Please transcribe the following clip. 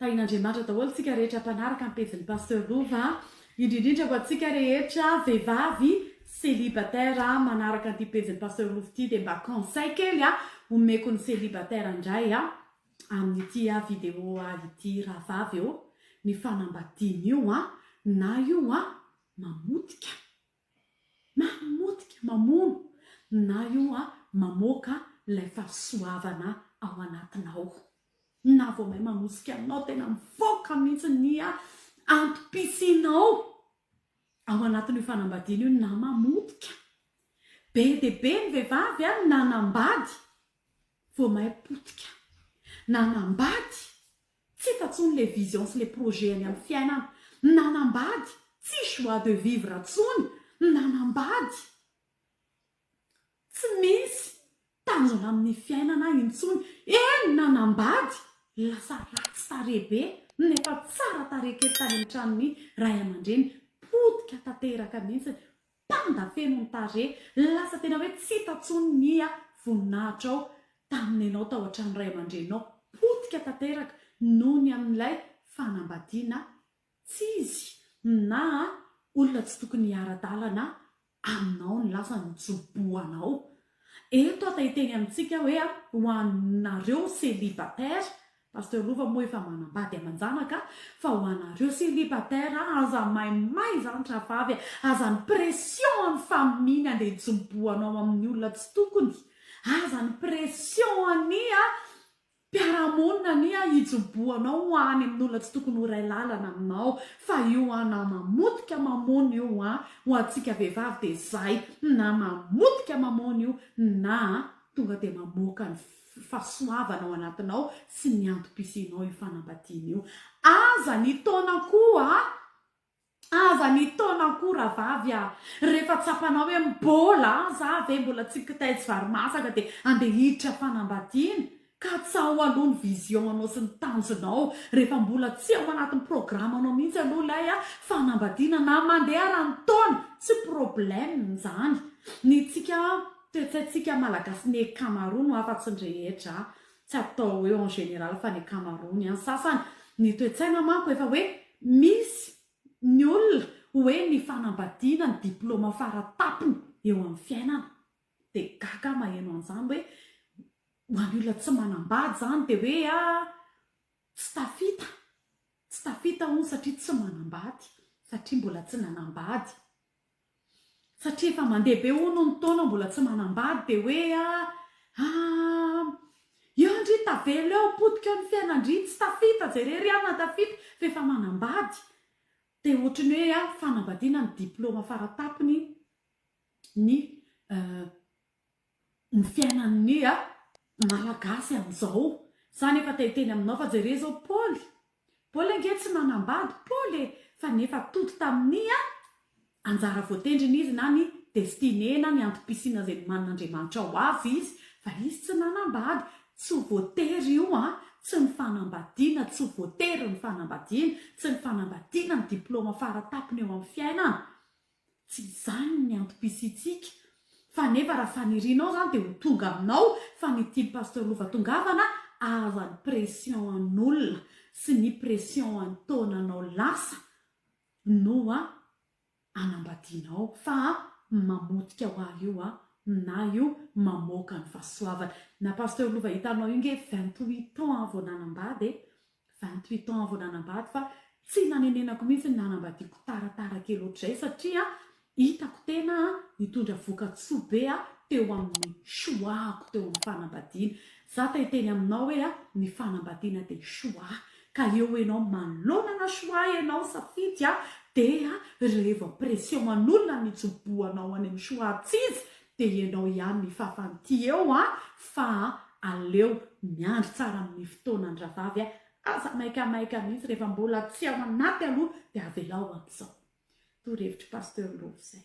Tahin'Andriamanitra daholo tsika rehetra mpanaraka ny pejin'i Pasteur Lova a! Indrindra indrindra ho antsika rehetra vehivavy célibataire manaraka an'ity pejin'i Pasteur Lova ity dia mba conseil kely a! omeko ny célibataire indray a! amin'ity a vidéo a ity rahavavy ô! ny fanambadiana io a! na io a! mamotika. Mamotika, mamono, na io a mamoaka ilay fahasoavana ao anatinao. Na vao may manosika anao tena mivoaka mihitsy ny a antom-pisianao ao anatin'io fanambadiana io na mamotika. Be dia be ny vehivavy a nanambady vao may potika. Nanambady Tsy efa tsony le vision sy le projet any am fiainana. Nanambady, tsy joie de vivre tsony, nanambady tsy misy tanjona aminy fiainana intsony, eny nanambady lasa ratsy tarehy be nefa tsara tarehy kely tany am tranony ray aman-dreny, potika tanteraka mihitsy, Panda feno ny tarehy, lasa tena hoe tsy hita tsony nia voninahitrao tamin'ny enao tao an-trano ray aman-dreninao, potika tanteraka noho ny amin'ilay fanambadiana tsy izy na olona tsy tokony hiara-dalana aminao ny lasa nojobohanao Eto aho te hiteny amintsika hoe ho anareo celibataire, Pasteur Lova moa efa manambady aman-janaka, fa ho anareo celibataire aza maimay izany rahavavy a, aza ny pression an'ny famille-ny andeha hitsimbohanao amin'ny olona tsy tokony, aza ny pression an'i a, Mpiara-monina anie hijoboanao ho any amin'ny olona tsy tokony ho iray lalana aminao fa io an nama motika mamony io an ho antsika vehivavy dia izay nama motika mamony io na tonga dia mamoaka ny fasoavana ao anatinao sy ny antom-pisianao io fanambadiana io aza ny taona koa Aza mitaona akoho ravavy a! Rehefa tsapanao hoe mbola aza ve mbola tsy kitay tsy vary masaka dia andeha hiditra fanambadiana. Katsaho aloha ny vision anao sy ny tanjonao rehefa mbola tsy ao anatin'ny programme anao mihitsy aloha ilay fanambadiana na mandeharan'ny taona tsy problème izany. Ny tsika toetsaintsika malagasy ny ankamaroany ho afatsy ny rehetra Tsy atao hoe en général fa ny ankamaroany an. Sasany ny toe-tsaina manko efa hoe misy ny olona hoe ny fanambadiana ny diploma faratapony eo amin'ny fiainana. Dia gaga aho maheno an'izany hoe ho an'ny olona tsy manambady izany dia hoe a tsy tafita, tsy tafita hono satria tsy manambady, satria mbola tsy nanambady. Satria efa mandeha be hono ny taona mbola tsy manambady dia hoe aam. Eo ndry tavela eo potika eo ny fiainandry tsy tafita jereo ry anona tafita fa efa manambady dia ohatry ny hoe an fanambadiana ny diploma faratapony ny ny fiainan'ny ny a malagasy an'izao, za nefa te hiteny aminao fa jere zao Paoly, Paoly ange tsy nanambady Paoly e, fa nefa tody tamin'ny a anjara voatendriny izy na ny destinée na ny antom-pisiana izay nomanin'Andriamanitra ho azy izy fa izy tsy nanambady, tsy ho voatery io an, tsy ny fanambadiana, tsy ho voatery ny fanambadiana, tsy ny fanambadiana ny diploma fara tapony eo amin'ny fiainana, Tsy izany ny antom-pisiantsika fa nefa raha fanirianao izany dia ho tonga aminao fa ny tian'i Pasteur Lova tongavana aza ny pression an'olona sy ny pression an'ny taonanao lasa no a anambadianao fa a mamotika ho ahy io a na io mamoaka ny fahasoavana na Pasteur Lova hitanao io nge vingt huit ans vao nanambady e Vingt huit ans vao nanambady fa tsy nanenenako mihitsy ny nanambadiako taratara kely ohatr'izay satria hitako tena nitondra vokatsoa be teo amin'ny choix-ko teo amin'ny fanambadiana. Za te hiteny aminao hoe ny fanambadiana dia choix ka eo ianao manonana choix ianao safidy dia reveo pression an'olona ny hijoboanao any amin'ny choix-ts'izy Dia ianao ihany ny fafan'ity eo an, fa an, aleo miandry tsara amin'ny fotoanan-dravavy an, aza maikamaika mihitsy, rehefa mbola tsy ao anaty aloha dia avelao amin'izao. Torohevitr'i Pasteur Lova izay.